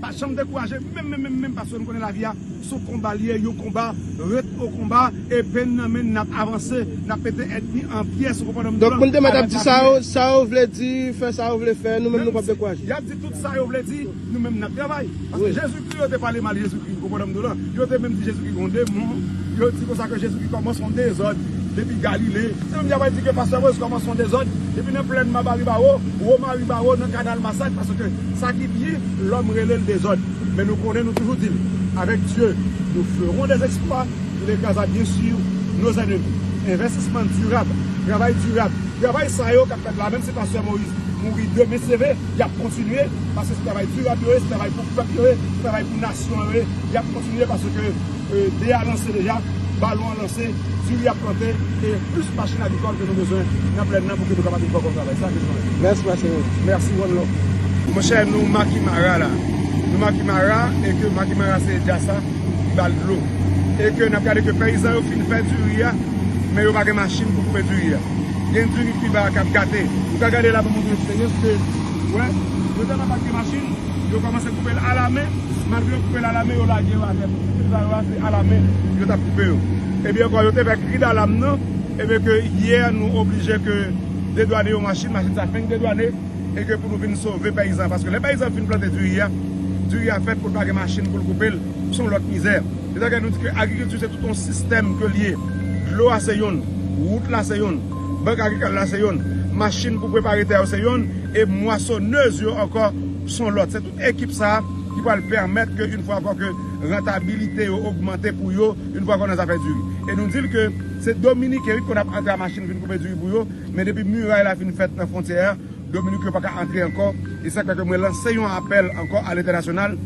Pa janm dekouraje menm menm menm menm paske nou konnen lavi a son konba li ye yon konba ret o konba epe n nan men n nap avanse nap pete èdmi an pyès ou konprann m blan a la dappiye menm si yap di tout sa yo vle di nou menm nap travay paske jezikri yo te pale mal jezikri ou konprann m blan a. Yo te menm di Jezikri gon demon, yo di konsa ke Jezikri kòmanse yon dezòd depi Galile. Se menm jan wè di ke Pastè Moise kòmanse yon dezòd depi nan plèn Mabaribawo, Womaribawo, nan kanal Masak paske sa ki byen lòm rele l dezòd. Men nou konnen, nou toujou di l, Avèk Dye, nou feron dè zèksplwa, il ekraza byen sur nos ennemis. Envèstisman dirab, travay dirab, travay sa yo k ap fèt la, menm si Pastè Moise mouri demen se vre, y ap kontinye paske se travay dirab yo ye, se travay pou pèp yo ye, se travay pou nasyon. Soirée yap kontinye paske dé a lanse deja, balon an lanse, diri ap plante e plis machin agrikòl ke nou bezwen nan plèn nan pou ke nou kapab vin fè bon travay. Sa ke nou mande. Mèsi ma chérie. Merci one love. Monchè nou maki mara la. Nou maki mara e ke maki mara se jasa ki bal dlo. E ke nap gade ke peyizan yo fin fè diri a men yo pa gen machin pou koupe diri a. Gen diri ki ba kap gate. Ou ka gade la pou moun gen eksperyans ke wè. Yo tèlman pat gen machin. Yo komanse koupe l ala men, malgre yo koupe l ala men yo lage yo atè tou. Viktim sa yo a se ala men yo tap koupe yo. Ebyen ankò yo te fè kri dalam nan, ebyen ke yè nou oblije ke dedwane yon machin, machin sa fenk dedwane e ke pou nou vin sove peyizan. Paske lè peyizan fin plante diri a, diri a fèt pou l pa gen machin pou l koupe l, se yon lòt mizè. Se sa ke nou di ke agrikilti se tout yon sistèm ke l ye. Dlo a se yonn, wout la se yonn. Bank agrikal la se yonn, machin pou prepare tè yo se yonn, e mwasonèz yo ankò son lòt. Se tout ekip sa a ki pral pèmèt ke yn fwa ankò ke rantabilite yo ogmante pou yo, yn fwa ankò nan zafè diri. E nou di l ke se dominiken wi ki konn ap antre a machin vin koupe diri pou yo, men depi miray la fin fèt nan fwontyè a, Dominik yo pa ka antre ankò, e sa k fè ke mwen lanse yon apèl ankò a lentènasyonal,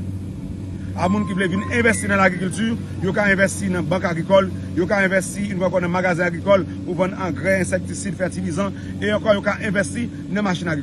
a moun ki vle vin envèsti nan lagrikilti, yo ka envèsti nan bank agrikòl, yo ka envèsti yon fwa ankò nan magazen agrikòl pou vann angrè, ensektisid, fètilizan, e ankò yo ka envèsti nan machin agrikòl.